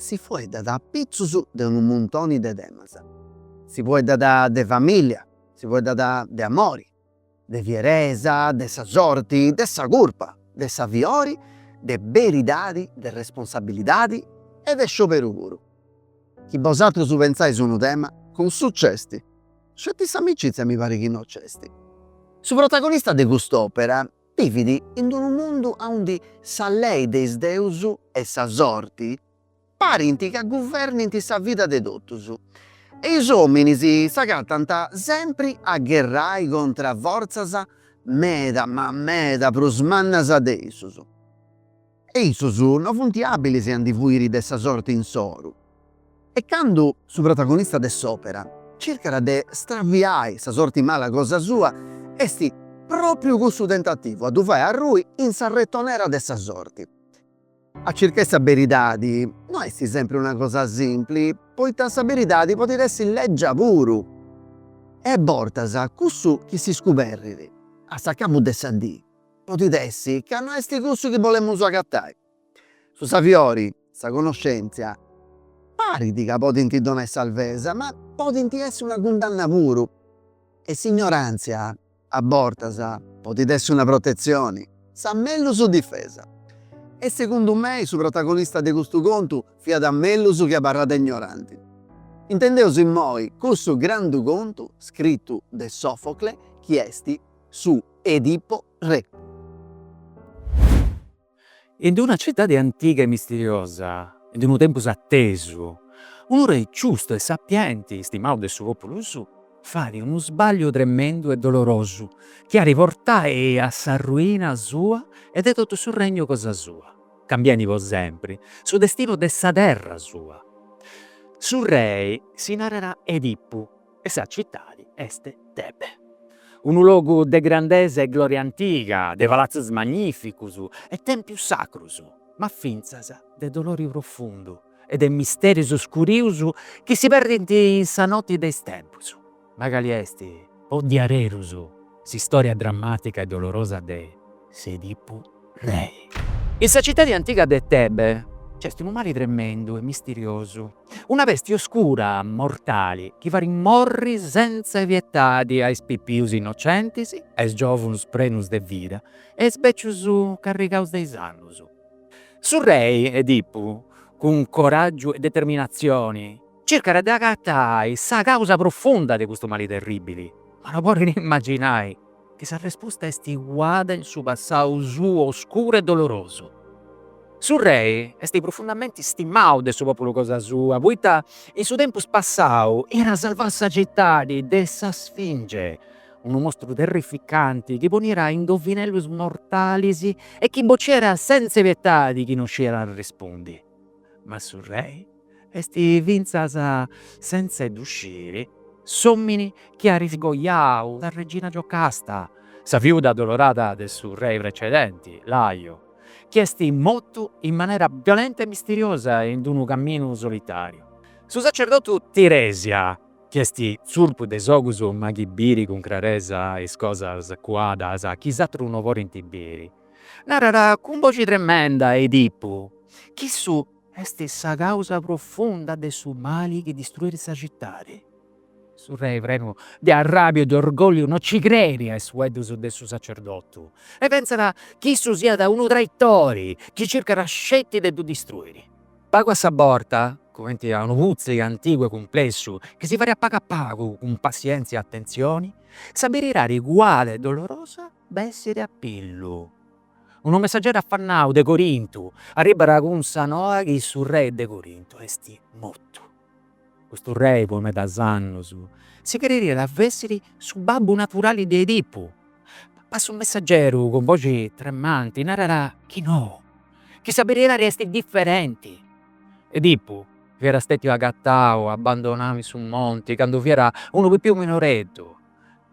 Si fueddat a pitzus de unu muntoni de temas. Si fueddat de famìllia, si fueddat de amori, de fieresa, de sa sorti, de sa curpa, de saviori, de beridadi, de responsabilidadi e de scioberu puru. Chi bosatrus pentzais unu tema, cussu c'esti, sceti s'amicizia mi parit chi no c'esti. Su protagonista de cust'òpera Bivit in d-unu mundu aundi sa lei de is deus e sa sorti parint ca guvernint sa vida de totus e is ominis s'agatant sempri a gherrai contra fortzas meda ma meda prus mannas de issus. E issus no funt àbilis a ndi fuiri de sa sorti insoru. E candu su protagonista de s'òpera circat de straviai sa sorti mala cosa sua, est pròpriu cussu tentativu a ddu fai arrui in sa retonera de sa sorti. A circai sa beridadi no est sempri una cosa simpli, poita sa beridadi podit essi lègia puru. E bortas cussu chi si scuberrit a s'acabu de sa dì. Podit essi ca no est cussu chi bolemus agatai. Su saviori, sa connoscèntzia, parit ca podint donai sarvesa, ma podint essi una cundanna puru. E s'ignoràntzia, a bortas, podit essi una protetzioni, sa mellus difesa. E segundu mei su protagonista de custu contu fiat mellus chi abarrada ignoranti. Intendeus immoi cussu grandu contu scritu de Sofocle chi est. su Edipo Re. In d-una citadi antiga e misteriosa, in d-unu tempus attesu, unu Rei giustu e sapienti, stimau de su populu suu, fait unu sbagliu tremendu e dolorosu chi at a portai a s'arruina sua e de tottu su regnu cosa sua, cambiendi po sempri su destinu de sa terra sua. Su Rei si narat Edipu. e sa citadi est Tebe, unu logu de grandesa e gloria antiga, de palatzus magnificus e tempius sacrus, ma fintzas de dolori profundu e de misterius oscurius chi si perdint in sa noti de is tempus, ma cali est po diaderus s'istoria drammatica e dolorosa de s'Edipu Rei. In sa citadi antiga de Tebe nc'est unu mali tremendu e misteriosu, Una pesti oscura, mortali, chi fait morri sentza pietadi a is pipius innocentis, a is giovunus prenus de vida e is becius carrigaus de is annus. Su rei Edipu, cun coràgiu e determinatzioni, circat de agatai sa càusa profunda de custu mali terribili, ma no podit imaginai, E sa resposta est cuada in su passau suu oscuru e dolorosu. Su rei est profundamenti istimau de su populu cosa sua, poita in su tempus passau iat salvau sa citadi de sa Sfinge, unu mostru terrificanti chi poniat indovinellus mortalis e chi bociat senza pietadi chi no sciat arrespundi. ma su rei est fintzas sentza 'e ddu sciri s'omini chi at iscoiau sa regina Giocasta, sa fiuda addolorada de su rei precedenti, Laio, chi est mortu in manera violenta e misteriosa in unu caminu solitariu. Su sacerdotu Tiresia, chi est zurpu de is ogus ma chi biri cun craresa is cosas cuadas chi is atrus no podint biri, Narara cun boxi tremenda a Edipu chi issu est sa causa profunda de su mali chi distruit sa citadi. Su rei prenu de arrabiu e de orgolliu no ci creit a is fueddus de su sacerdotu e pentzat chi issu siat unu traitori chi circat sceti de ddu distruiri. Pagu a sa borta, cumenti a unu puzzle antigu e cumplessu chi si fait pagu a pagu cun passientzia e atentzioni, sa beridadi cuada e dolorosa bessiri a pillu. Unu messaggeru affannau de Corintu arribara cun sa noa chi su rei de Corintu esti mortu. Custu rei po medas annus si crediat fessiri su babbu naturali de Edipu, ma su messaggeru cun boxi tremanti narara chi no, chi sa beridadi esti differenti. Edipu fiara stetiu agattau abbandonau in su monti candu fiara unu pipiu minoreddu.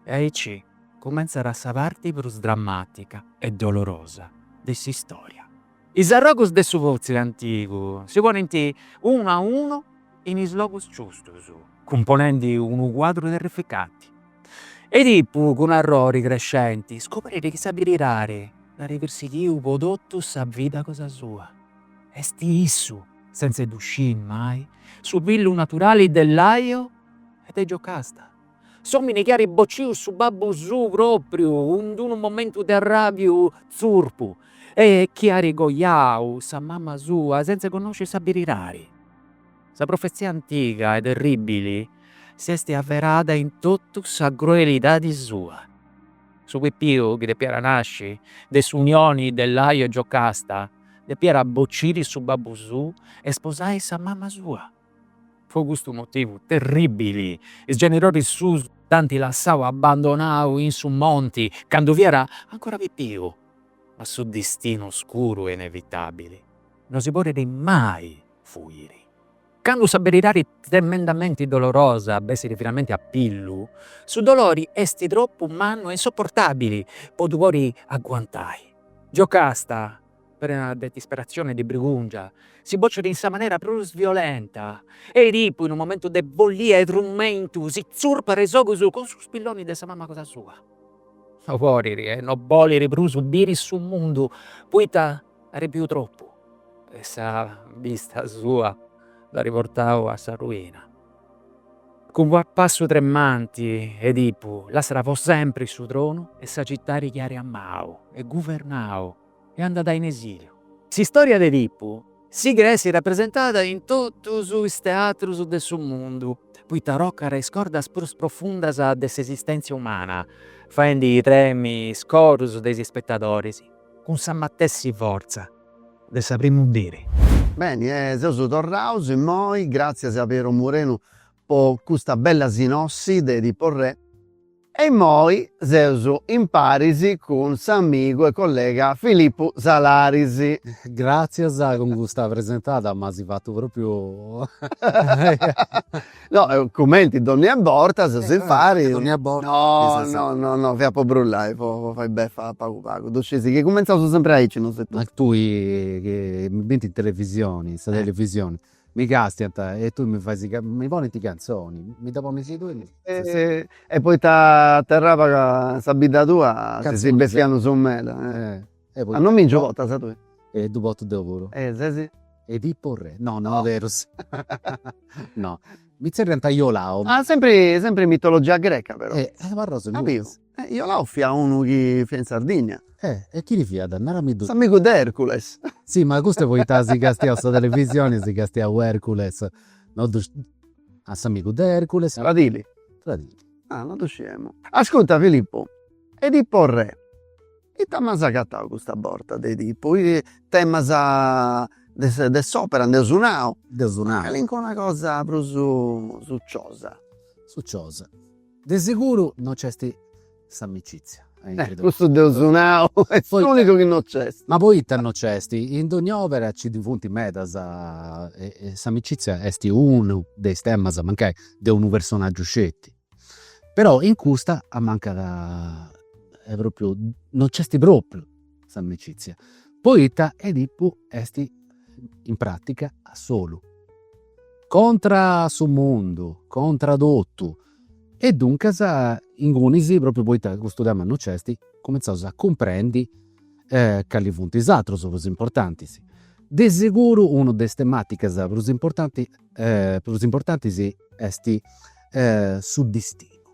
E aici cumentzat sa parti prus dramàtica e dolorosa de s'istòria. Is arrogus de su puzzle antigu si ponint unu a unu in is logus giustus, cumponendi unu cuadru terrificanti. Edipu, cun arrori crescenti, scoberit chi sa beridadi dd'at persighiu po totu sa vida cosa sua. Est issu, sentza 'e ddu sciri mai, su fillu naturali de Laio e de Giocasta. S'omini chi at bociu su babbu suu propriu in d'unu momentu de arrabiu zurpu e chi at coiau sa mamma sua senza connosci sa beridadi. Sa profezia antiga e terribili s'est averada in totu sa cruelidadi sua. Su pipiu chi depiat nasci de s'unioni de Laio e Giocasta depiat bociri su babbu suu e sposai sa mamma sua. Pro custu motivu terribili, is genidoris suus dd'ant lassau abbandonau in su monti candu fiat ancora pipiu. Ma su distinu oscuru e inevitabili no si podit mai fuiri. Candu sa beridadi tremendamenti dolorosa bessit finalmenti a pillu, su dolori est tropu mannu e insoportabili po ddu podi aguantai. Giocasta prena de disperatzione e de brigùngia, si bocit in sa manera prus violenta e Edipu, in unu momentu de follia e trumentu, si tzurpat is ogus cun su spilloni de sa mama cosa sua. No podit e no bolit prus biri su mundu, poita at biu tropu e sa bista sua l'at portau a sa ruina. Cun passu tremanti Edipu lassat po sempri su tronu e sa citadi chi at amau e guvernau. e andat in esiliu. S'istòria de Edipu sighit a essi rapresentada in totus is teatrus de su mundu, poita tocat is cordas prus profundas de s'esistèntzia umana, faendi tremi is corus de is ispetadoris cun sa matessi fortza de sa primu diri. Beni, e seus torraus immoi, gràtzias a Piero Murenu po custa bella sinossi de Edipo Re. E immoi seus imparis cun s'amigu e collega Filippu Salaris. Gràtzias, cun custa presentada m'as fatu pròpriu. No, cumenti dònnia borta seus impari. Dònnia borta. No, no, no, no, fiat po brullai, po fai befa pagu pagu. Ddu scesi chi cumenzausu sempri aici nosu e tui. Ma tui chi mi binti in televisioni, sa televisioni. Mi castiant e tui mi fais mi ponint cantzoni, mi dda ponis tui. E poita a Terraba ca sa bidda tua si si bessiat unu sou meda. A non mi nci portas tui? E ddu portu deu puru. E ses Edipu re. No no berus. No. Mi zerriant Iolau. Ah sempri sempri mitologia greca però. E abarrau solu. E Iolao fiat unu chi fiat in Sardigna. E e chini fiat? Narami ddu. S'amigu de Ercules. Si, ma custu est poita as castiau sa televisioni, as castiau Ercules, no ddu. Ah, s'amigu de Ercules. Tradili. Tradili. Ah, no ddu sciemu. Ascurta Filippu, Edipo re, ita m'as agatau custa borta de Edipu? Temas de de s'opera, nd'eus nau. Nd'eus nau. Ma calincuna cosa prus suciosa. Suciosa. De seguru no c'est s'amicizia. Eh, cussu dd'eus nau, est s'unicu chi no c'est. Ma poita no c'est? In dogna òpera nci ndi funt medas e s'amicizia est unu de is temas, mancai de unu personaggiu sceti. Però in custa ammancat, est pròpriu, no c'est pròpriu s'amicìtzia poita Edipu est in pràtica a solu, contra a su mundu, contra a totu. E duncas ingunis, propriu poita custu tema non nc'est, cumintzaus a cumprendi cali funt is aterus prus importantis. De seguru una de is tematicas prus importanti prus importantis est su distinu.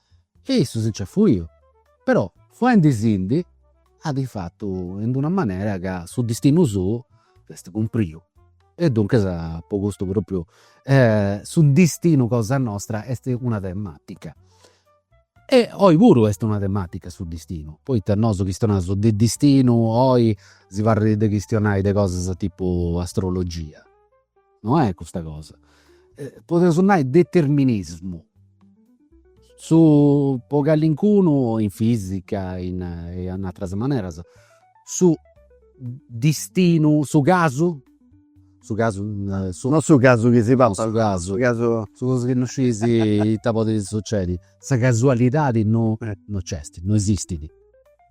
E issu si nc'est fuiu, però fuendisindi at fatu in d'una manera ca su distinu suu s'est cumpriu. E duncas po custu propriu su distinu cosa nostra est una tematica. E oi puru est una tematica su distinu, poita nosu chistionaus de distinu oi si parrit de chistionai de cosas tipu astrologia no est custa cosa, podeus nai determinismu, su po callincunu in fisica in in ateras maneras, su distinu, su casu, su casu, no su casu chi si papat, su casu, su cosu chi non sciis ita podit sucedi, sa casualidadi no no nc'est, no esistit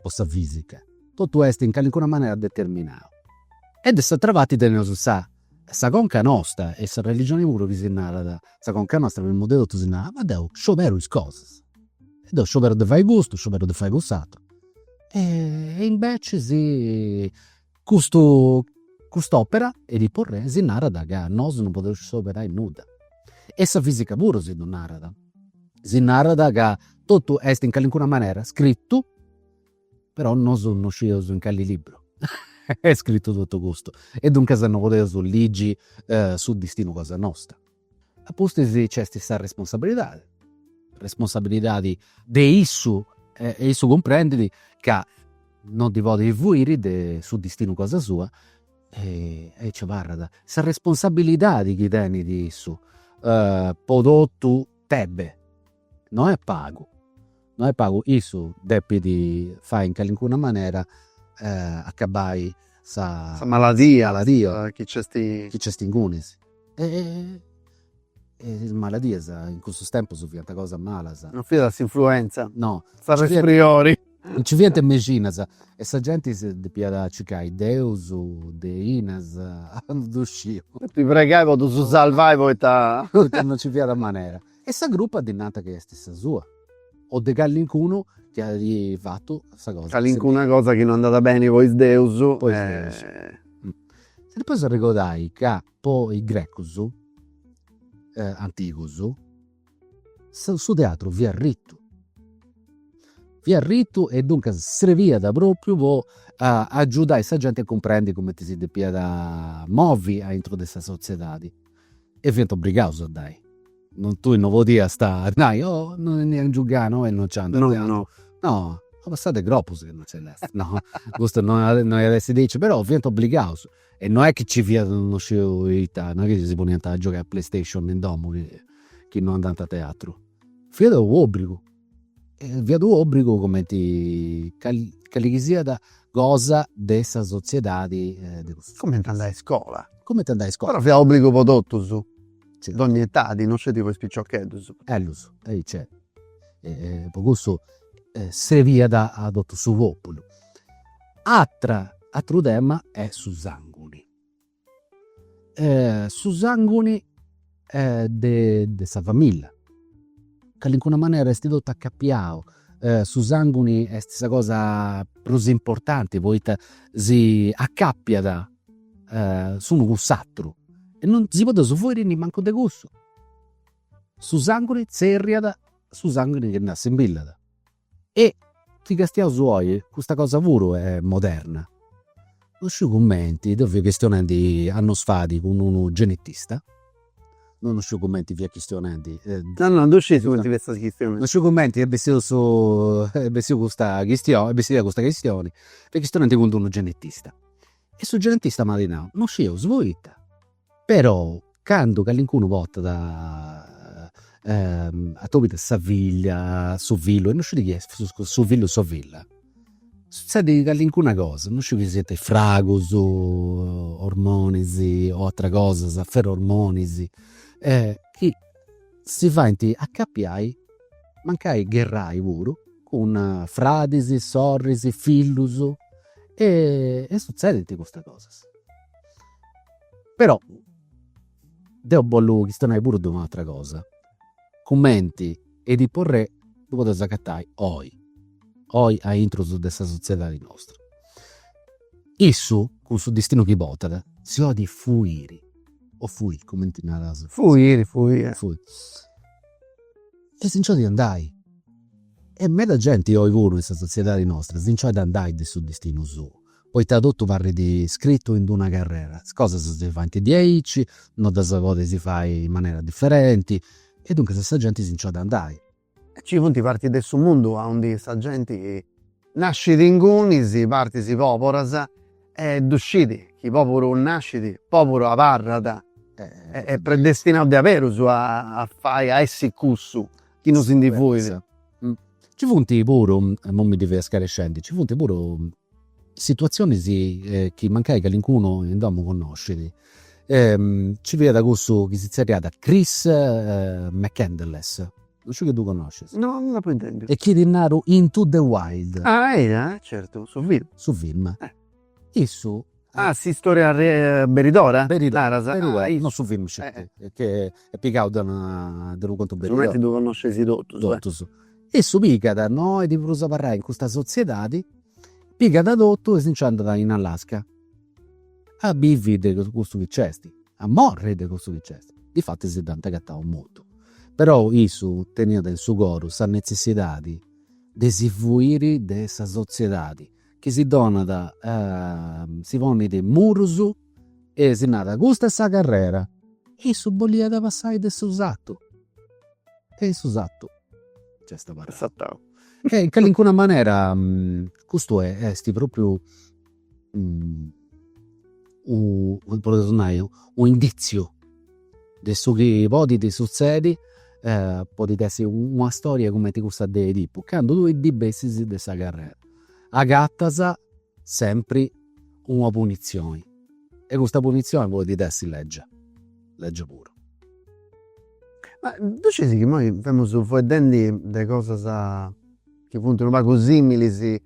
po sa fisica, totu est in callincuna manera determinau e de s'atera parti teneus sa Sa conca nostra e sa religioni puru chi si narat, sa conca nostra primu de totu si narat, ma deu scioberu is cosas, deu scioberu de fai custu, scioberu de fai cuss'ateru e invecias custu cust'opera Edipo Re si narat ca nosu non podeus scioberai nudda. E sa fisica puru si ddu narat, si narat ca totu est in calincuna manera scrittu Però nosu no scieus in cali libru est scritu totu custu e duncas no podeus ligi su distinu cosa nostra. A pustis nc'est sa responsabilidadi, responsabilidadi de issu e issu cumprendit ca no ndi podit fuiri de su distinu cosa sua e aici abarrat sa responsabilidadi chi tenit issu po totu Tebe No est pagu, no est pagu, issu depit fai in calincuna manera acabai sa maladia chi nc'est ingunis. Is maladias in cussus tempus fiant cosas malas. Non fiat s'influenza. No. S'arresfriori. No nci fiant is mexinas e sa genti depiat circai deus, deinas, ddu sciu. Depi pregai po ddus salvai poita. Poita non nci fiat manera. E sa crupa ddi nant chi est sa sua. O de callincunu chi at fatu sa cosa. Callincuna cosa chi no andat beni po is deus. Po is deus. Si ddi podis arregodai ca po is grecus antigus su teatru fiat ritu. Fiat ritu e duncas srebiat propriu po agiudai sa genti a cumprendi cumenti si depiat movi aintru de sa sotziedadi E fiant obrigaus a andai. Tui no podiast nai, oi no tengiu gana e no nci andu a teatru. No, no. Una passada de cropus chi no nci nd'est. No, custu no iat essi diaici, però fiant obligaus. E no est chi nci fiat no sciu ita, no est chi si poniant a giogai a playstation in domu chi no andant a teatru. Fiat u' obrigu Fiat u'obbrigu cumenti cali chi siat cosa de sa sotziedadi de cussu. Cumenti andai a iscola. Cumenti andai a iscola. Però fiat obbrigu po totus, dogni etadi, no sceti po is piciocheddus. Ellus, aici, po cussu srebiat a totu su populu. Atra, atru tema est su sanguni su sanguni de sa familla, calincuna manera est totu acapiau, su sanguni est sa cosa prus importanti poita si acapiat s'unu cun s'aturu e non si podeus fuiri nimancu de cussu. Su sanguni tzerriat su sanguni chi nd'assimbillat E chi castiaus oi, custa cosa puru est moderna. Non sciu cumenti, deu fia chistionendi annus fait cun unu genetista, deu non sciu cumenti fia chistionendi. No no, deu sciu cumenti fiast chistionendi. Non sciu cumenti est bessiu su, est bessiu custa chistioni, est bessida custa chistioni, fia chistionendi cun d'unu genetista. E su genetista m'at nau, non scieus poita Però candu callincunu portat atobiat sa filla, su fillu e no scit chi est, su fillu o sa filla, sutzedit callincuna cosa, no sciu chi siant is fragus, ormonis o ateras cosas, ferormonis, chi si faint acapiai, mancai gherrai puru, cun fradis, sorris, fillus e sutzedint custas cosas però deu bollu chistionai puru de un'atra cosa, cumenti Edipo re ddu podeus agatai oi, oi aintrus de sa sotziedadi nostra. Issu cun su distinu chi portat si 'olit fuiri o fuit cumenti naras, fuiri fuiri e si nci 'olit andai e meda genti oi puru in sa sotziedadi nostra si nci 'olit andai de su distinu suu poita totu parrit scritu in d-una carrera, is cosas si faint diaici, no ddas podis fai in manera diferenti, e duncas sa genti si nc'at a andai. Ci funt partis de su mundu aundi sa genti nascit ingunis partis poburas e ddu scit chi poburu nascit, poburu abarrat, est predestinau diaberus a fai, a essi cussu chi no si ndi fuit. Ci funt puru, imoi mi ddi fia scarescendi, nci funt puru situatzionis chi mancai calincunu in domu connoscit. Nci fiat cussu chi si zerriat Chris McCandless, non sciu chi ddu connoscis. No, non dd'apu intendiu. E chi ti naru Into the Wild. Ah, eia, certu, su film. Su film Issu. Ah s'istoria beridora? Beridora, naras? Non su filmu sceti, che est pigau de una, de unu contu beridora. Siguramenti ddu connosceis totus. Totus. Issu pigat, no bolit prus abarrai in custa sotziedadi, pigat totu e si nci andat in Alaska a bivi de custu chi nc'est, a morri de custu chi nc'est. Difatis dd'ant agatau mortu. Però issu teniat in su coru sa netzessidadi de si fuiri de sa sotziedadi chi si donat si ponit murus e si narat custa est sa carrera e issu boliat passai de su satu e in su satu nc'est abarrau e in calincuna manera custu est propriu u podeus nai unu inditziu de su chi podit sutzedi podit essi una storia cumenti cussa de Edipu candu tui ndi bessis de sa carrera agatas sempri una punitzioni e custa punitzioni podit essi lègia, lègia puru. Ma ddu scis chi imoi femus fueddendi de cosas chi funt unu pagu similis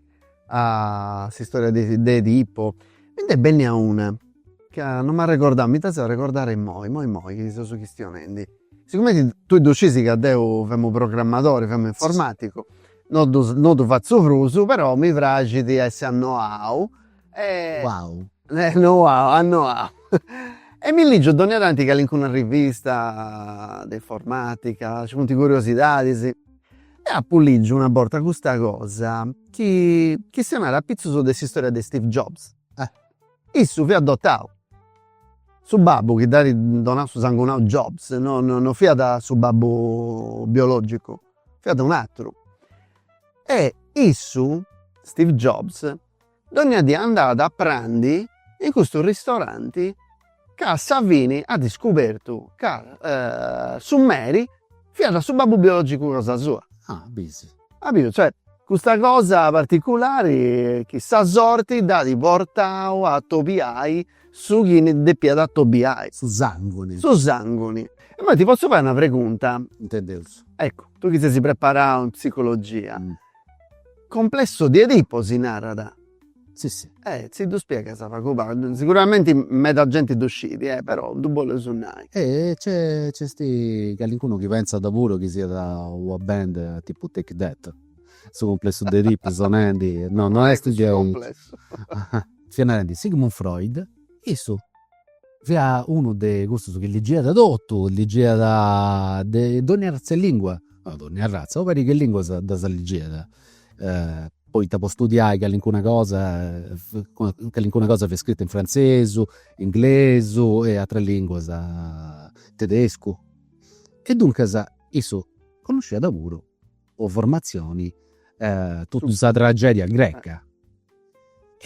a s'istoria de Edipo, mi nd'est bennia una ca non m'arregordau, mi dd'as fata arregordai imoi, imoi imoi chi seus chistionendi. Sigumenti tui ddu scis ca deu femu programmadori, femu informaticu No ddu no ddu fatzu prus però mi praxit a essi annoau e Uau. Annoau annoau e mi ligiu dònnia tanti calincuna rivista de informàtica, nci funt curiosidadis e apu ligiu una borta custa cosa chi chistionat apitzus de s'istòria de Steve Jobs. Issu fiat adotau, su babbu chi dd'at donau su sangunau Jobs no no no fiat su babbu biològicu fiat un'atteru e issu Steve Jobs dogna die andat a prandi in custu ristoranti ca a sa fini at iscubertu ca su meri fiat su babbu biologicu cosa sua. Ah b'is. Cumprèndiu cioè custa cosa particulari chi sa sorti dd'at portau a atobiai Su chi ndi depiat atobiai. Su sanguni. Su sanguni. E immoi ti potzu fai una pregunta? Intendeus. Eccu, tui chi sesi preparau in psicologia, complesso di Edipo si narat? Si si. E si ddu spiegas pagu pagu, siguramenti meda genti ddu scidi, e però ddu boleus nai. E nc'est calincunu chi pentzat puru chi siat una band tipu Take That, su complesso di Edipo sonendi, no no est gei. fiat narendi Sigmund Freud, issu fiat unu de cussus chi ligiat totu, ligiat de donni arratz'e lingua, no donni arratza, u' parigu 'e linguas ddas ligiat poita po studiai calincuna cosa, calincuna cosa fiat scrita in frantzesu, inglesu e ateras linguas, tedescu. E duncas issu connosciat puru o formatzioni totu sa tragedia greca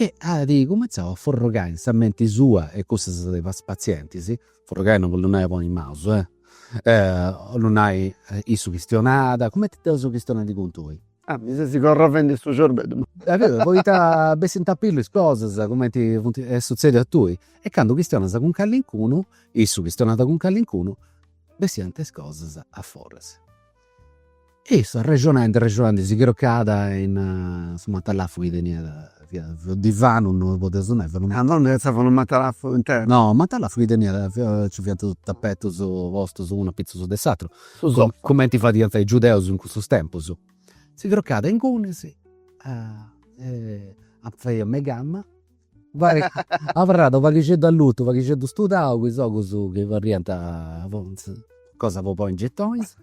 e at cumentzau a forrogai in sa menti sua e cussas de is patzientis, forrogai non bolit nai a ponni is manus, bolit nai issu chistionat, cumenti deu chistionendi cun tui. Ah mi ses corrovendi su cerbeddu. Poita bessint a pillu is cosas cumenti funt, est sutzediu a tui. E candu chistionas cun callincunu, issu chistionat cun callincunu, bessiant is cosas aforas E issu arrexonandi arrexonandi si crocàt in su matalafu chi teniat, fiat divanu, non podia nai, fiat unu, ah non depeus pensai a unu matalafu internu, no unu matalafu chi teniat, nci fiant totus is tapetus postus unu apitzus de s'aturu, su sofa, cumenti fadiant is giudeus in cussus tempus, si crocàt ingunis, fadiat meigama abarrada, u' paghixeddu allutu, u' paghixeddu studau po is giogus chi abarrant po is cosas po ponni in getonis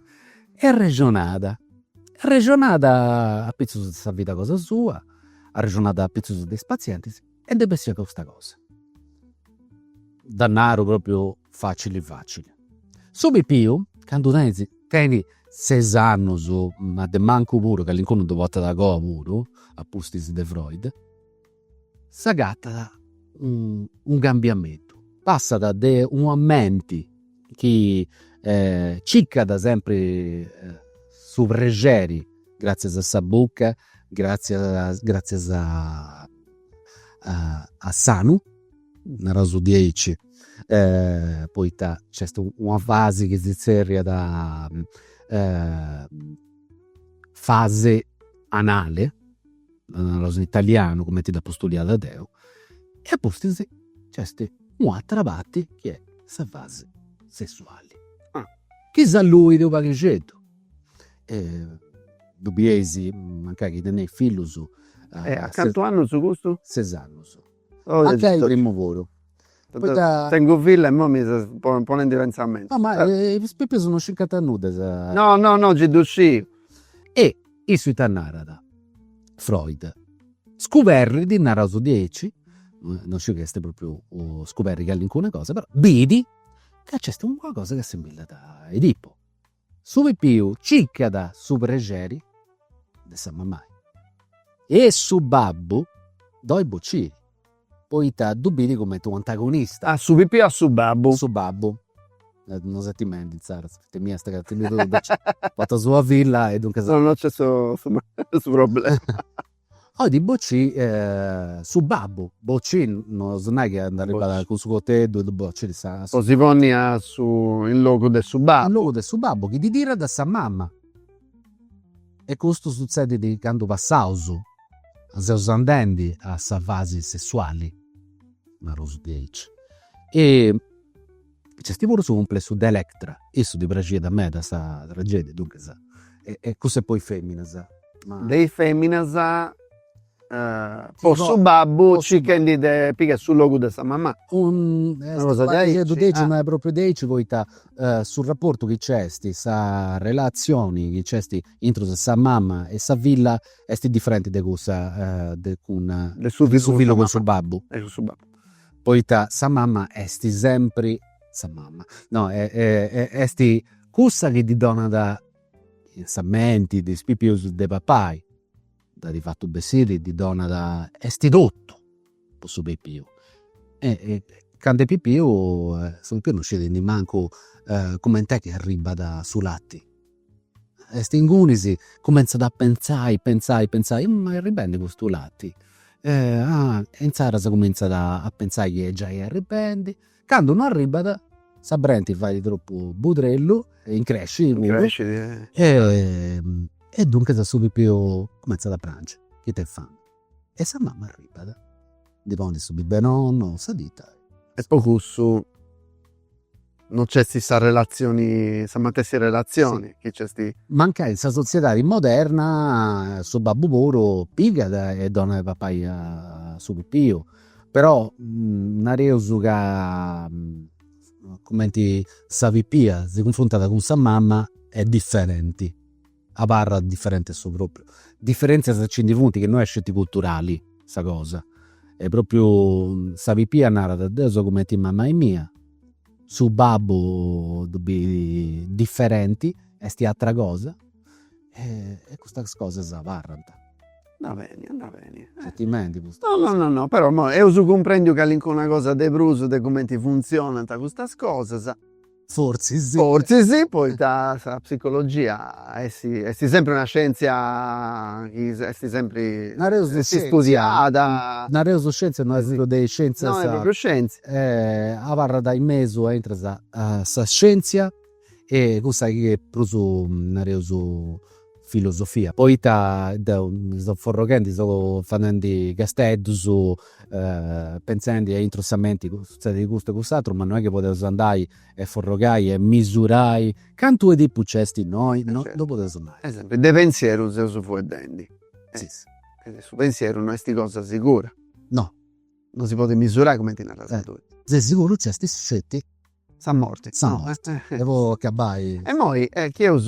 e arrexonada, arrexonada apitzus de sa vida cosa sua, arrexonada apitzus de is patzientis e ndi bessiat custa cosa. Dda naru propriu facili facili. Su pipiu candu tenit, tenit ses annus, ma de mancu puru, calincunu ddu portat a goa puru, apustis de Freud s'agatat unu cambiamentu, passat de una menti chi circat sempri su prexeri gratzias a sa buca, gratzias gratzias a s'anu, nareus diaici, poita nc'est una fasi chi si zerriat fasi anali dda naras in italianu cumenti dd'apu studiada deu, e apustis nc'est un'atera parti chi est sa fasi sessuali, chi s'alluit u' paghixeddu, ddu bieis mancai chi teneis fillus. E a cantu annus custus? Ses annus Anche ai primu puru. Poita. Tengu filla e imoi mi ses ponendi pentzamentus. No ma is pipius no circant a nudda. No no no gi ddu sciu. E issu ita narat, Freud, scuberrit, naraus diaici, no sciu chi est propriu scuberri callincuna cosa, però bidi ca nc'est una cosa chi assimillat a Edipo. Su pipiu ciccat su prexeri de sa mamai e su babbu ddu 'oit bociri poita ddu biri cumenti un antagonista. A su pipiu a su babbu. Su babbu, no seti mendi inzaras, feti mia est ca ti ndi fut diaici, poita est una filla e duncas. No no nc'est su problema 'Oit bocì su babbu, bocì no est a nai chi andat arribat cun su coteddu ddu bocit, eh. 'Oit si ponni a su in logu de su babbu. In logu de su babbu chi ddi tirat a sa mama. E custu sutzedit candu passaus seus andendi a sa fasi sessuali, narusu diaici. Nc'est puru su cumplessu de Electra. Issu ddi praxiat meda sa tragedia, duncas. E cussa 'e po is feminas. Ma de is feminas po su babbu circhendi de pigai su logu de sa mamà. Una cosa diaici. No propriu diaici poita su rapportu chi nc'est, sa relazioni chi nc'est intra sa mama e sa filla est differenti de cussa de cun. De su fillu cun su babbu. Poita sa mama est sempri sa mama. No, est cussa chi ddi donat in sa menti de is pipius de papai, dd'at fatu bessiri ddi donat, est totu po su pipiu. Candu est pipiu su pipiu non scit nemmancu cumenti est chi arribat su lati Est ingunis, cumentzat a pentzai, pentzai, pentzai, ma arribendi custu lati? Ah, e inzaras cumintzat a pentzai chi est giai arribendi, candu non arribat sa brenti fait tropu budrellu, increscit e duncas su pipiu cumentzat a pranci, ita est fai. E sa mama arribat. Ddi ponit su biberonu, sa tita. E po cussu no nc'esti sa relatzioni, sa matessi relatzioni chi nc'esti. Mancai in sa sotziedadi moderna su babbu puru pigat e donat a papai a su pipiu. Però nareus ca cumenti sa pipia si cunfruntat cun sa mama est diferenti. Abarrat diferenti a su propriu. Diferentzias nci ndi funt chi no est sceti culturali sa cosa. E propriu sa pipia narat, deu seu cumenti 'e mamai mia, su babbu ddu biri diferenti, esti atra cosa e custas cosas abarrant. Andat beni, andat beni. Gentimendi pustis. No no no no, però imoi eus cumprendiu calincuna cosa de prus de cumenti funtzionant custas cosas Fortzis. Fortzis, poita sa psicologia est est sempri una scientzia chi est sempri istudiada. Nareus de scientzia no est una de is scientzias. No est propriu scientzia. Abarrat in mesu intra sa scientzia e cussa chi est prus nareus filosofia. Poita deu mi seu forroghendi, seu fadendi casteddus, pentzendi aintru 'e sa menti sutzedit custu e cuss'aturu, ma non est chi podeus andai e forrogai e misurai cantu Edipu nc'est innoi, no podeus andai. Esempio, de pentzieru seus fueddendi. Su pentzieru no est cosa sigura. No. Non si podit misurai cumenti naras tui. De siguru nc'est sceti Sa morti. Sa morti. E po acabbai. E imoi chi eus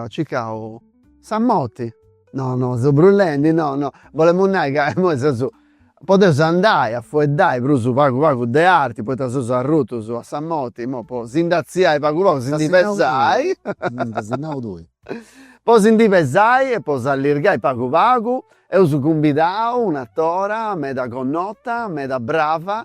circau sa morti. No no seu brullendi no no. Bolemus nai ca immoi seus. Podeus andai a fueddai prus pagu pagu de arti poita seus arrutus a sa morti immoi po si ndi atziai pagu pagu si ndi pesai. Dd'asi nau tui. Po si ndi pesai e po s'allirgai pagu pagu eus cumbidau un'atora meda connota meda brava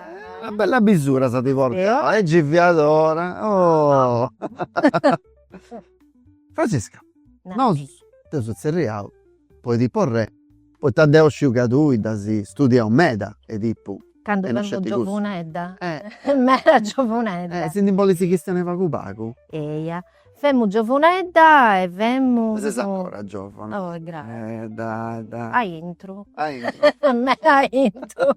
Una bella bisura sa ti porto. Eo? E gei fiat ora oh. Francisca, nosu t'eus atzerriau po Edipu re, poita deu sciu ca tui dd'as studiau meda Edipu. Candu fimus giovuneddas, meda giovuneddas. E si ndi bolis chistionai pagu pagu? Eia. Femu giovunedda e femu. Ma ses ancora giovuna. Oh grazie. Dai. Aintru. Aintru. Meda aintru.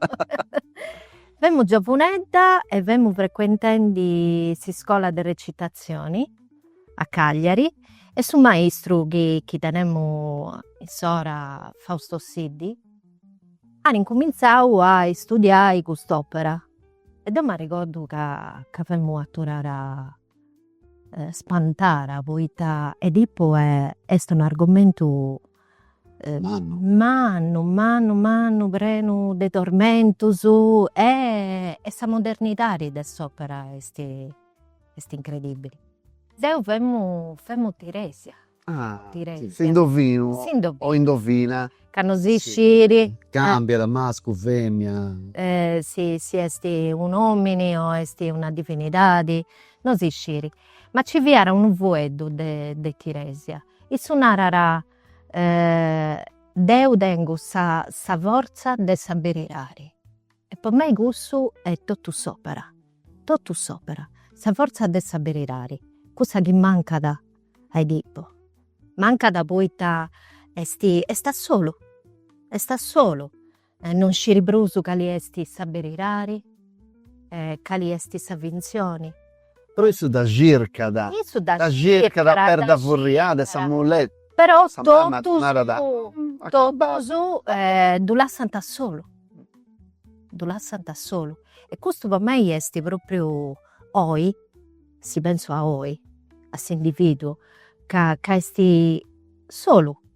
Femu giovunedda e femu frequentendi s'iscola de recitazioni a Cagliari e su maistru chi chi tenemu insora Fausto Siddi at incumintzau a istudiai cust'opera e deu m'arregordu ca ca femu aturara spantara poita Edipu est un argomentu mannu mannu mannu prenu de tormentus e sa modernidadi de s'opera est incredibbili. Deu femu femu Tiresia S'indovinu o indovina. Ca non si sciri. Cambiat da mascu a femina. Si si est un'omini o est una divinidadi no si sciri. Ma nci fiat unu fueddu de de Tiresia. Issu narat deu tengu sa sa fortza de sa berirari. E po mei cussu est totu s'òpera, totu s'òpera, sa fortza de sa berirari, cussa chi mancat a Edipo. Mancat poita est est a solu, est a solu, e non sciri prus cali est sa berirari e cali est sa fintzioni. Però issu dda circat. Issu dda circat. Dda circat a perda furriada e sa muleta. Però totus, totus ddu lassant solu, ddu lassant solu. E custu po mei est propriu oi, si pentzu a oi, a s'individuo ca ca est solu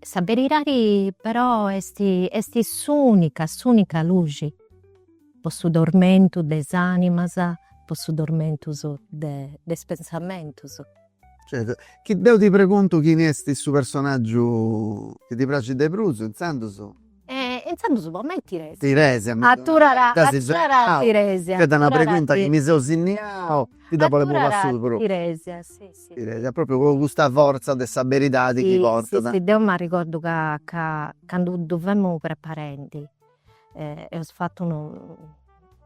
Sa beridadi però est, est s'unica, s'unica luxi po su tormentu de is animas, po su tormentu de is pensamentus. Chi deu ti preguntu chini est su personaggiu chi ti praxit de prus, intzandus. E intzandus po mei Tiresia. Tiresia mi. Aturara aturara Tiresia. Ca da una pregunta chi mi seu sinniau ti da bollu puru a su propriu. Tiresia si si. Tiresia propriu po custa forza de sa beridadi chi portat. Si si deu m'arregordu ca ca candu ddu femu preparendi eus fatu unu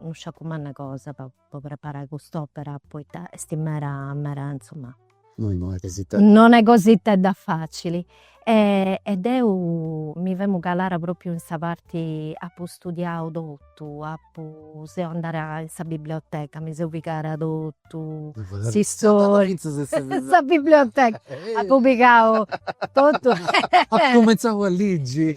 unu sciacu manna cosa po po preparai cust'opera poita est mera mera insoma. No no est cosita. No est cositedda facili e e deu mi femu calara propriu in sa parti, apu studiau totu, apu seu andada in sa biblioteca, mi seu pigada totu s'istoria, sa biblioteca, apu pigau totu. Apu cumenzau a ligi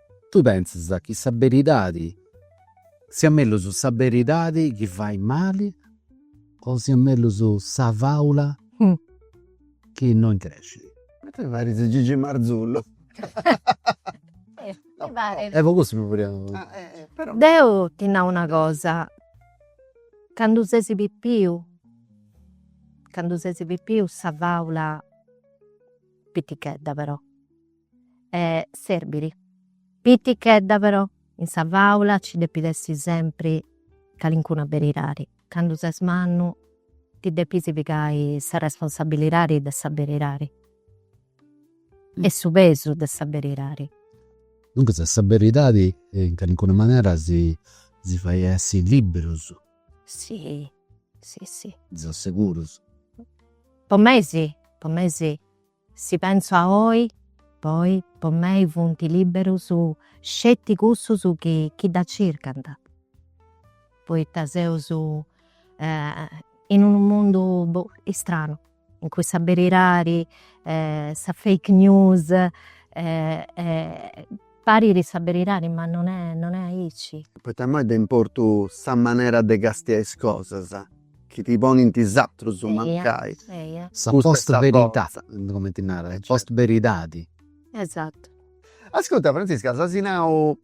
Tui pentzas chi sa beridadi, siat mellus sa beridadi chi fait mali o siat mellus sa faula chi no increscit? Ma tui paris Gigi Marzullo. E po cussu mi furiat. Deu ti nau una cosa, candu ses pipiu, candu ses pipiu sa faula pitichedda però e serbiri. Pitichedda però, in sa fàula nci depit essi sempri calincuna beridadi. Candu ses mannu ti depis pigai sa responsabilidadi de sa beridadi e su pesu de sa beridadi. Duncas sa beridadi in calincuna manera si fait essi liberus. Si, si, si. Seus segurus. Po mei si, po mei si. Si pensu a oi, poi, po mei funt liberus sceti cussus chi dda circant, poita seus in unu mundu istranu, in cui sa berirari, sa fake news Parit sa beridadi ma non est, non est aici. Poita immoi est de importu sa manera de castiai is cosas, chi ti ponint is atrus mancai. Eia. Sa post veritadi, cumenti narat, sa post beridadi. Esatu. Ascurta Francesca, si asi nau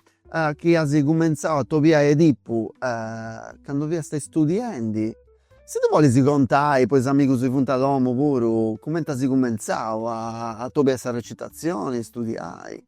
chi asi cumentzau a atobiai Edipu candu fiasta istudiendi, si ti bolisi contai po is amigus chi funt a domu puru, cumenti asi cumentzau a atobiai sa recitazioni, istudiai.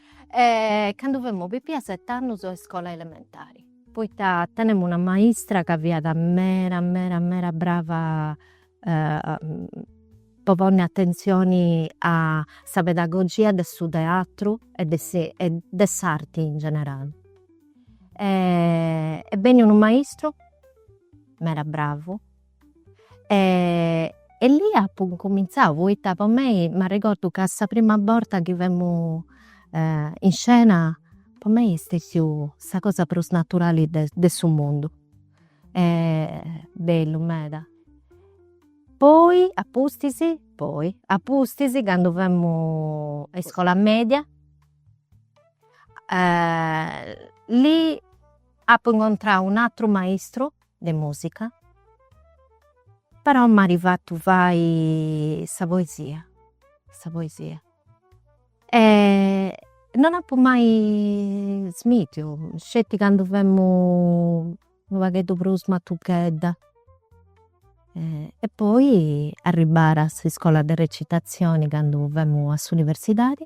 Candu femu pipia set'annus a iscola elementari. Poita tenemu una maistra ca fiat mera mera mera brava po ponni atentzioni a sa pedagogia de su teatru e de de s'arti in generali. E beni unu maistru mera bravu E lì apu incumintzau poita po mei m'arregordu ca sa prima borta chi femu in scena po mei est stètiu sa cosa prus naturali de de su mundu. Bellu meda. Poi a pustis, poi a pustis candu femu a iscola media lì apu incontrau un'àteru maistru de musica, però m'at fatu fai sa poesia, sa poesia. E non apu mai smitiu, sceti candu femu unu pagheddu prus matuchedda. E poi arribara a s'iscola de recitazioni candu femu a s'universidadi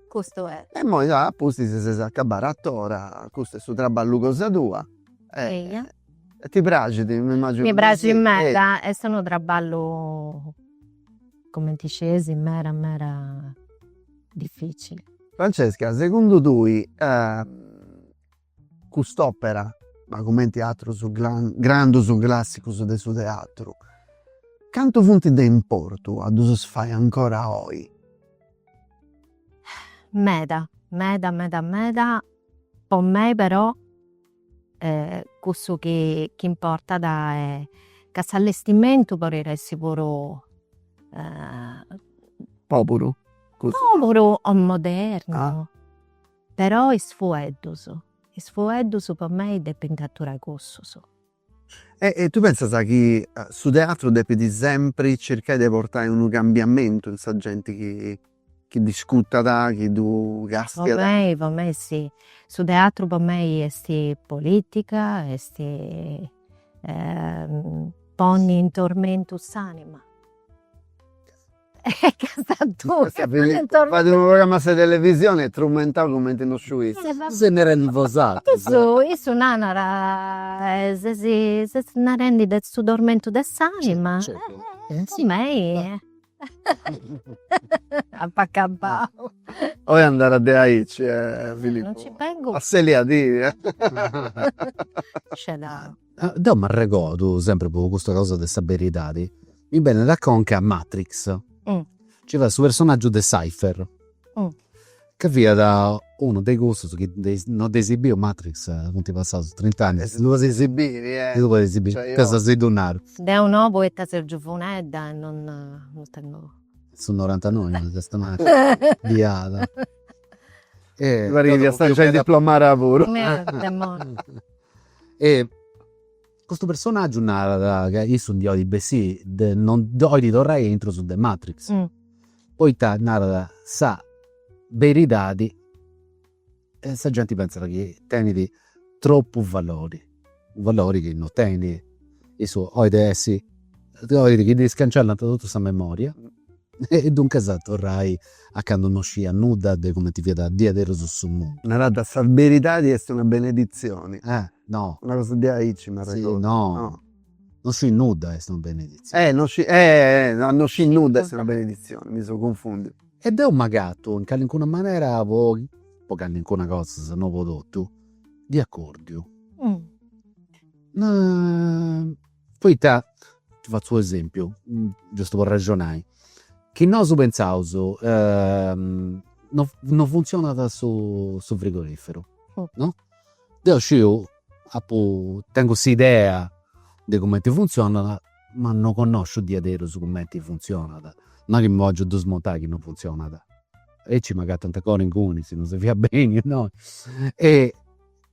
Custu est. E poi a pustis ses acabbada atora, custu est su traballu cosa tua e. Eia. E ti praxit, m'immagino. Mi praxit meda, est unu traballu cumenti scesi meda meda dificili. Francesca, segundu tui Cust'òpera, ma cumenti atrus grandus classicus de su teatru, cantu funt de importu a ddus fai ancora oi? Meda, meda, meda, meda, po mei però cussu chi importat est ca s'allestimentu podit essi puru pòburu o modernu Però is fueddus, is fueddus po mei depint catturai cussus. E tu pentzas chi su teatru depit sempri circai de portai unu cambiamentu in sa genti chi chi dd'iscurtat, chi ddu castiat? Po mei, po mei si. Su teatru po mei esti politica, esti ponni in tormentu s'anima. Fait unu programma a sa televisioni est trumentau cumenti no sciu ita. Seis narendi bosatrus. Issu narat, ses narendi de su tormentu de s'anima. Mei. Apu acabau. Oi andat de aici Filippu. Non ci bengu. Asseliadì. Scedau. Deu m'arregordu, sempri po custa cosa de sa beridadi, mi benit a conca Matrix, nci fiat su personaggiu de Cypher, ca fiat unu de cussus chi non dd'eis biu Matrix, funt passaus trint'annus. E si ddu podis biri, eh. Si ddu podis biri, deu si ddu naru. Deu no poita seu giuvunedda e non non tengu. Su norantanoi est Matrix, biada. Mi parrit chi fiast giai diplomada puru. E custu personaggiu narat ca issu ndi 'olit bessì de, no, 'olit torrai aintru de matrix poita narat sa beridadi e sa genti pentzat chi tenit tropu valori, u' valori chi no tenit, issu 'olit essi, 'olit chi ddi scancellanta totu sa memoria E duncas a torrai a candu no sciiat nudda de cumenti fiat diaderus su mundu. Naràt, Sa beridadi est una beneditzioni. Eh, no. Una cosa diaici m'arregordu. Si, no. No scii nudda est una beneditzioni. Eh, no scii, eh, eh, no scii nudda est una beneditzioni, mi seu cunfùndiu. E deu m'agatu, in calincuna manera, po po calincuna cosa, se no po totu, de acòrdiu. No. Poita, ti fatzu u' esempiu, giustu po arrexonai, chi nosu pentzaus non funtzionat su frigoriferu, no, deu sciu, apu, tengu s'idea de cumenti funtzionat ma non connosciu diaderus cumenti funtzionat, non est chi mi pongiu a ddu smontai chi non funtzionat, aici m'agatant ancora inguni si non si fait benni unu e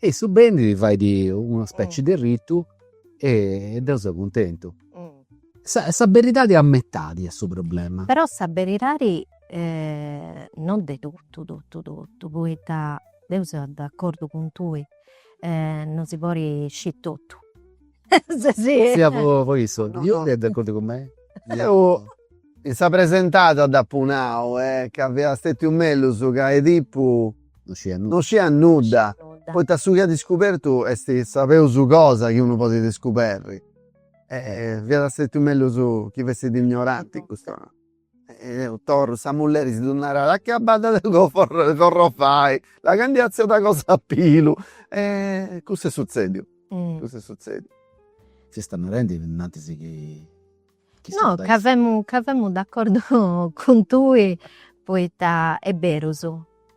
Issu benit, fait una speci de ritu e deu seu cuntentu. Sa sa beridadi a metadi est su problema. Però sa beridadi non de totu totu totu poita deu seu d'acordu cun tui non si podit sciri totu Sia po issu. Deu in sa presentada dd'apu nau ca fiat stètiu mellus ca Edipu no sciiat nudda, poita su chi at iscubertu est sa peus cosa chi unu podit iscuberri. Fiat stètiu mellus chi fessit ignoranti in custu. Deu torru sa mulleri si ddu narat acabbadda de corrovai là ca ndi artziat cosa a pillu e cussu est sutzediu cussu est sutzediu. S'istat narendi innanti si chi no ca femu ca femu d'accordu cun tui poita est berus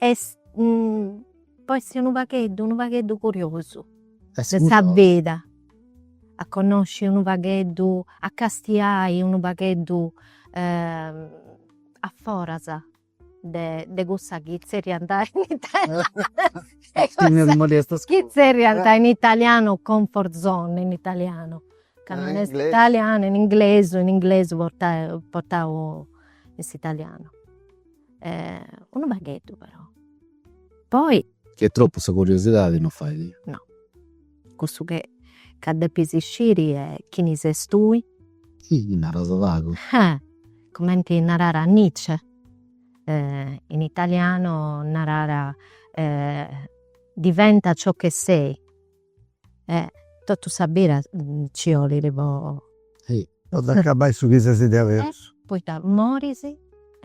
Est po essi unu pagheddu, unu pagheddu curiosu de sa vida. A connosci unu pagheddu, a castiai unu pagheddu aforas de de cussa chi zerriant chi zerriant in italianu comfort zone in italianu. Ca non est italianu, in inglesu, in inglesu portau portau in s'italianu unu pagheddu però, poi. Chi est tropu sa curiosidadi no fait. No, cussu che ca depis sciri est chini ses tui. Chi naras pagu. Cumenti narat Nietzsche, in italiano narat diventa ciò che sei. e totu sa bira nci 'olit po. Po dd'acabai su chi ses diaverus. Poita moris e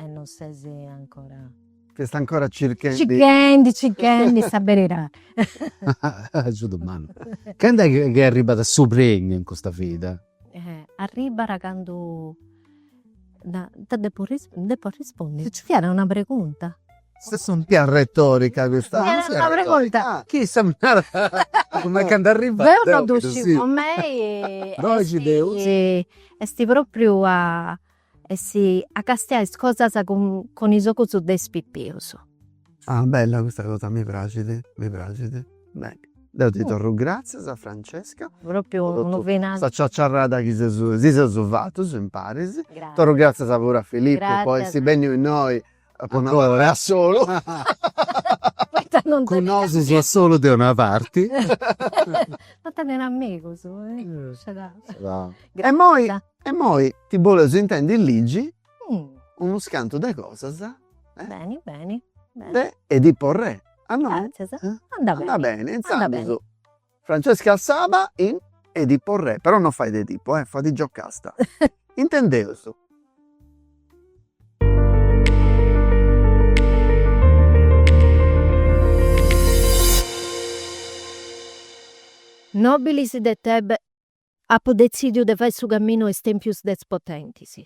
non ses ancora. Ch'est ancora circhendi. Circhendi circhendi sa beridadi. Su domandus. Candu est chi chi arribat su premiu in custa vida? Arribat candu, deu depu depu arrispondi, nci fiat una pregunta Custa est unu pagu arretòrica custa. Chissà cumenti candu arrivat. Deu non ddu sciu po mei esti esti propriu a essi a castiai is cosas cun cun is ogus de is pipius. Ah bella custa cosa mi praxit, mi praxit. Beni, deu ti torru gratzias Francesca. Propriu unu finali. Sa ciaciarrada chi seus si seus fatus imparis. Grazie. Torru gratzias puru a Filippu po essi benniu innoi Apo nau a solu, poita non teneus, cun nosu so a solu de una parti. Non teneus amigus, scedau. E imoi, e imoi ti boleus intendi ligi unus cantu de cosas, beni beni, de Edipo Re, a nosu, andat beni, intzandus. Francesca Saba in Edipo Re, però no fait Edipo eh, fait Giocasta. Intendeus. Nobilis de Tebe apo detzidiu de fai su caminu 'e is tempius de is potentis.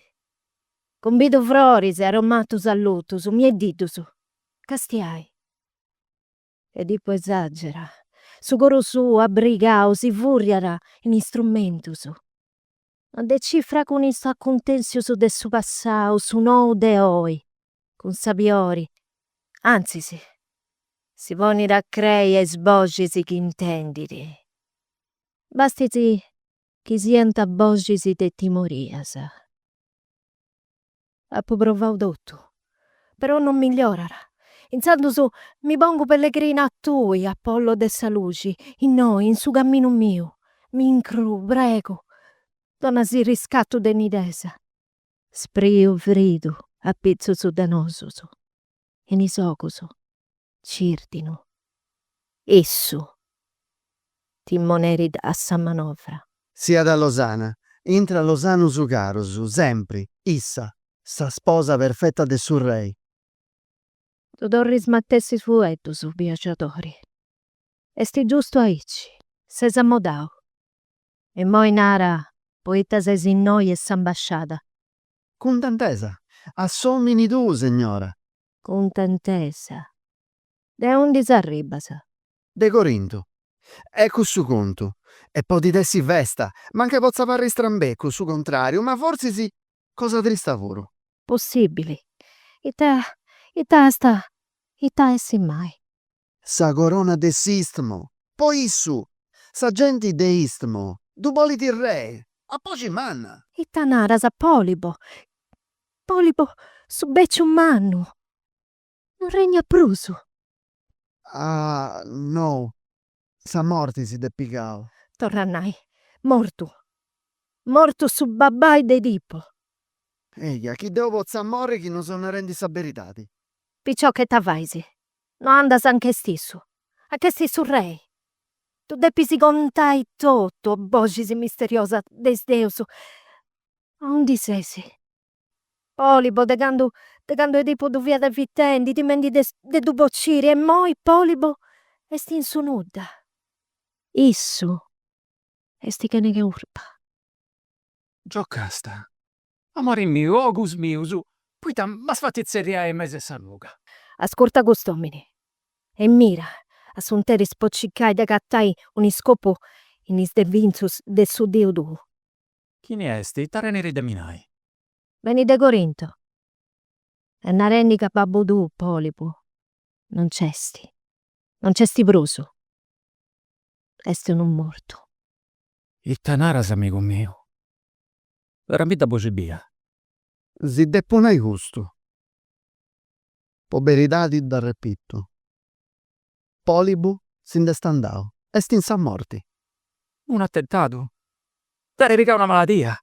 Cumbidu froris e aromatus allutus, mieddiddus, castiai. Edipu esagera. Su coru suu abbrigau si furriat in is trumentus. Ma decifra cun is acuntensius de su passau su nou de oi, cun sabiori, antzis, si ponit a crei a is boxis chi intendit. Bastit chi siant boxis de timorias. Apu provau totu, però non migliorat. Intzandus mi pongu pellegrina a tui, Apollo de sa luxi, innoi, in su caminu miu. M'incruu, pregu, dona·si riscatu de nidesa. Spreu fridu, apitzus de nosus. in is ogus cirdinu, issu timoneri de sa manovra. Siat losana intra losanus carus, sempri, issa, sa sposa perfetta de su rei. Ddu torru is matessi fueddus, viagiadori, est giustu aici, ses amodau, immoi nara poita ses innoi e s'ambasciada, Cuntentesa, A s'omini tuu, Segnora! Cuntentesa, De undi s'arribbas? De Corintu. E cussu contu? E podit essi festa, mancai potzat parri strambecu, su contrariu, ma forsis cosa trista puru. Possibili. Ita, ita est, it'at essi mai? sa corona de s'istmo, po issu sa genti de istmo ddu bolit rei a boxi manna. Ita naras Polibo, Polibo su beciu mannu non regnat prus. Ah no, sa morti si dd'est pigau. Torra a nai, mortu, mortu su babbai de Edipo. Eja, chi deu potza morri chi no seu narendi sa beridadi. Picioca, ita fais No andas anch'est issu, anch'est su rei. Ddu depis contai totu. O boxis misteriosas de is deus. Aundi ses? Polibo, de candu, de candu Edipu ddu fiat evitendi, timendi de de ddu bociri, e immoi Polibo est in su nudda. Issu est chene curpa. Giocasta Amore miu, ogus mius, poita m'as fatu tzerriai in mesu 'e sa ruga? Ascurta cust'omini e mira a su 'nteris po circai de agatai un'iscopu in is devinzus de su deus tuu. Chini est? Ita tenit de mi nai? Benit de Corinto est narendi ca babbu tuu Polibu non nc'est, non nc'est prus, est unu mortu. Ita naras amigu miu? Naramidda a boxi bia. Si depu nai custu, po beridadi dd'arrepitu, Polibu si nd'est andau, est in sa morti. Unu attentadu? Dd'at pigau una maladia?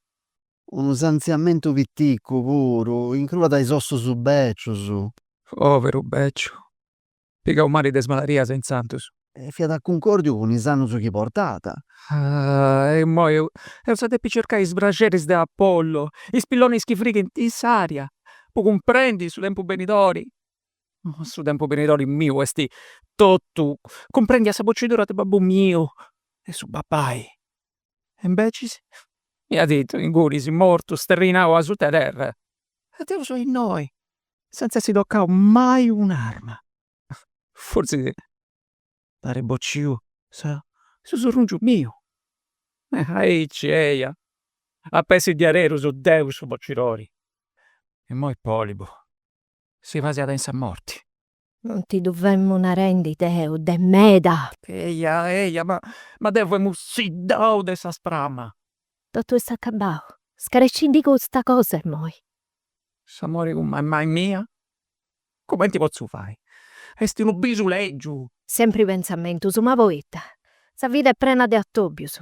Unu sanziamentu piticu puru, incruat is ossus bècius. Poveru bèciu, Pigau mali de is maladias intzandus. E fiat a cuncòrdiu cun is annus chi portat. E immoi eus a depi circai is braxeris de Apollo, is pillonis chi frighint in s'ària, po cumprendi su tempus benidori. Ma su tempus benidori miu est totu, cumprendiat sa bocidura de babbu miu e su babbai. e imbecis miadeddu, inguni est mortu, sterrinau asuta 'e terra, e deu so innoi, senza essi tocau mai un'arma. Fortzis dd'at ai bociu su surrungiu miu. Aici, eia, ap'essi diaderus deu su bocidori. Immoi Polibu si pasiat in sa morti. Non ti ddu femu narendi deu, de meda! Eja, eja, ma, ma deu femu siddau de sa sprama! Totu est acabau, scarecindi custa cosa immoi! S'amori cun mammai mia? Cumenti potzu fai? Est unu bisu lègiu! Sempri pentzamentus, ma poita? Sa vida est prena de atòbius.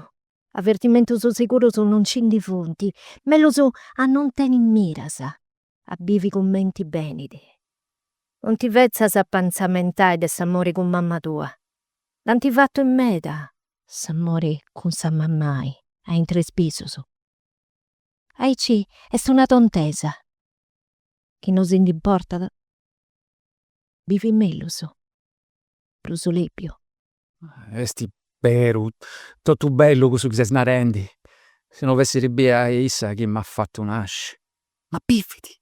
Avertimentus sigurus non nci ndi funt, mellus a non teni miras. a bivi cumenti benit. Non ti fetzas apentzamentai de s'amori cun mamma tua. Dd'ant fatu in meda s'amori cun sa mammai aintru 'e is bisus. Aici est una tontesa. Chi no si nd'importat bivit mellus, prus lèbiu, Esti beru, totu bellu cussu chi ses narendi, si no fessiri bia issa chi m'at fatu nasci. Ma bividi!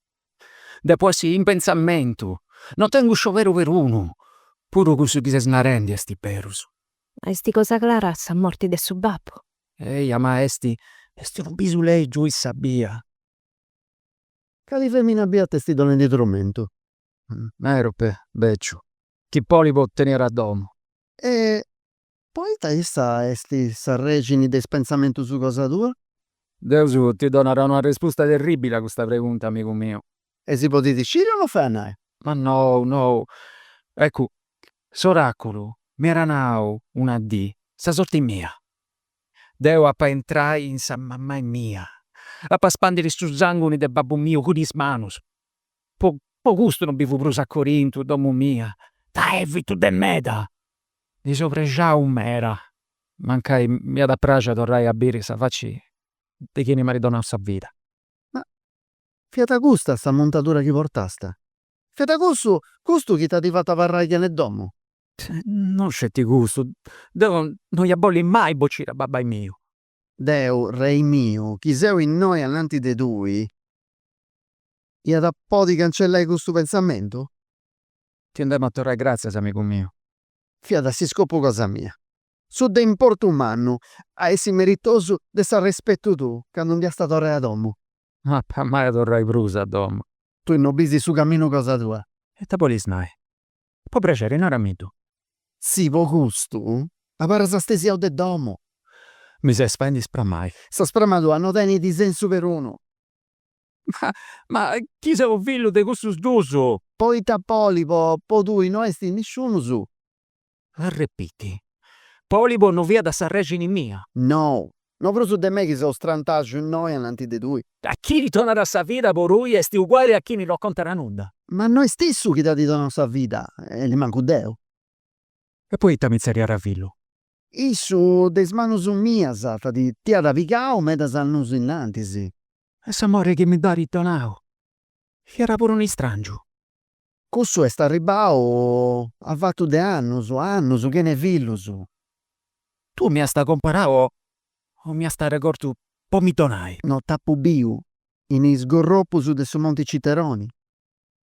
Depu essi in pentzamentu, no tengu scioberu perunu, puru cussu chi ses narendi esti berus. Ma esti cosa clara sa morti de su babbu? Eia, ma esti, esti unu bisu lègiu issa bia. Cali femina bia t'esti donendi trumentu? Merope, beciu. chi Polibo tenit a domu. E poita issa est s'arrexini de is pentzamentus cosa tua? Deus ti donat una arrespusta terribili a custa pregunta, amigu miu. E si podit sciri o no fait a nai? Ma nou, nou. Eccu, s'oraculu m'iat nau una dì sa sorti mia. Deu apu a intrai in sa mamai mia, apu a spandiri su sanguni de babbu miu cun is manus, Po custu no bivu prus a Corintu, domu mia, dda evitu de meda. Ndi seu prexau meda, mancai m'iat a praxi a torrai a biri sa faci de chini m'at donau sa vida. Ma fiat custa sa muntadura chi portast? Fiat cussu custu chi t'at fatu abarrai chene domu? No sceti custu, deu no ia bolli mai bociri a babbai miu. Deu, rei miu, chi seu innoi ananti de tui, iat a podi cancellai custu pentzamentu? Ti nd'emu a torrai gràtzias, amigu miu. Fiat s'iscopu cosa mia. Su de importu mannu, a essi meritosu de s'arrespetu tuu, candu nd'iast a torrai a domu. No apu mai a torrai prus a domu. Tui no bis su caminu cosa tua. Ita bolis nai? Po praxeri naramiddu. Si po custu abarras stesiau de domu. Mi ses faendi ispramai. Sa spramadura no tenit sensu perunu. Ma, ma, chi seu fillu de cussus duus. Poita Polibo, po tui no est nisciunus. Arrepiti. Polibo no fiat s'arrexini mia. No, No prus de mei chi seu strantaxu innoi ananti de tui. Ah, chini donat sa vida po tui est uguali a chini no contat nudda. Ma no est issu chi t'at donau sa vida e nemancu deu. E poita mi tzerriat fillu? Issu de is manus mias at ti t'iat pigau medas annus innantis. E s'amori chi mi dd'at donau fiat puru un'istràngiu. Cussu est arribbau a fatu de annus, annus chene fillus. Tui m'iast comporau o m'iast arregortu po mi donai. No, t'apu biu in is gorropus de su monti Citeroni.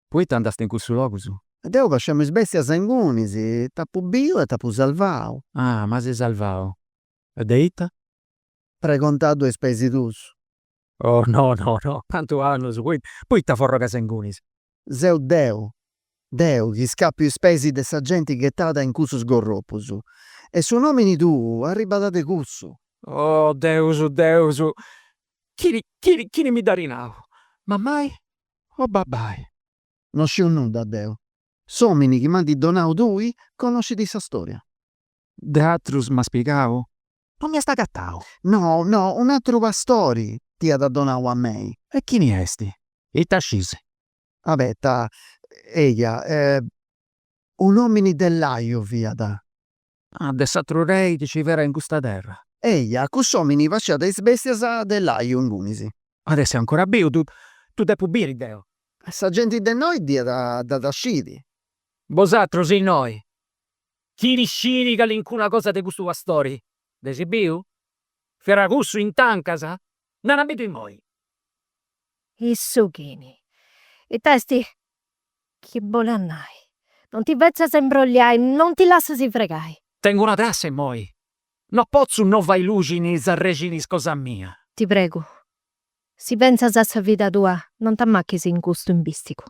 Poita andast in cussus logus. E deu pascemu is bestias ingunis t'apu biu e t'apu salvau. Ah, m'as salvau. E de ita? Pregontaddu a is peis tuus. Oh no no no, cantu annus, poita forrogas ingunis. Seu deu, deu chi scapiu is peis de sa genti ghetada in cussus gorropus. E su nomini tuu arribat de cussu. Oh Deus, Deus, chini, chini, chini mi dd'at nau, mamai o babai? No sciu nudda deu. S'omini chi m'anti donau tui conoscit sa storia. De atrus m'as pigau? non m'iast agatau. No, no, un'ateru pastori t'iat donau a mei. E chini est? Ita scisi? Abeta, eia, un'omini de Laiu fiat. Ah, de s'ateru rei chi ci fera in custa terra. Eia, cuss'omini pasciat is bestias de Laiu ingunis. At a essi ancora biu, ddu depu biri deu. Sa genti de innoi dd'iat a scidi. Bosatrus innoi Chini scit calincuna cosa de custu pastori? Dd'eis biu? Fera cussu in tancas? Naraimiddu immoi? Issu chini? Ita est chi bolat nai? Non ti fetzas imbrogliai, non ti lassas fregai. Tengu una trassa immoi. No potzu no fai luxi in is arrexinis cosa mia. Ti pregu, si pentzas a sa vida tua, non t'ammachis in custu imbisticu.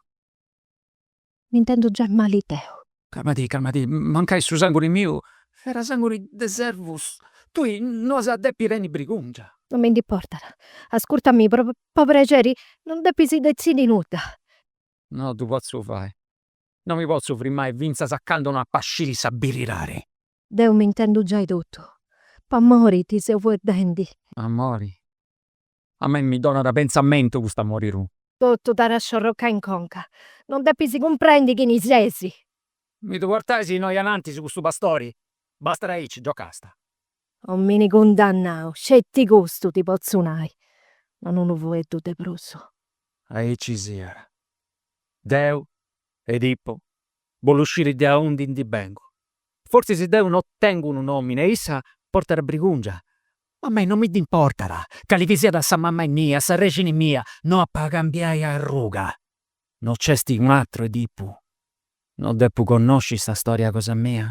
m'intendu giai mali deu. Calmati, calmati, mancai su sanguni miu fera sanguni de servus tui no as a depi tenni brigungia. Non mi nd'importat, ascurtami po prexeri, non depis detzidi nudda. No ddu potzu fai, no mi potzu frimai fintzas a candu no apa sciri sa birirari. Deu m'intendu giai totu, po amori ti seu fueddendi. Amori? A mei mi donat pentzamentu cust'amori tuu. Totu t'at a sciorrocai in conca. Non depis cumprendi chini ses. Mi ddu portais innoi anantis custu pastori, bastat aici, Giocasta. Omini cundannau, sceti custu ti potzu nai, non unu fueddu de prus. Aici siat. Deu, Edipu, bollu sciri de aundi ndi bengu. Fortzis deu no tengu unu nomini e issa portat brigungia, Ma a mei non mi nd'importat, cali chi siat sa mama mia, s'arrexini mia, no apu a cambiai arruga. No nc'est un'atru Edipu? No depu connosci sa storia cosa mia?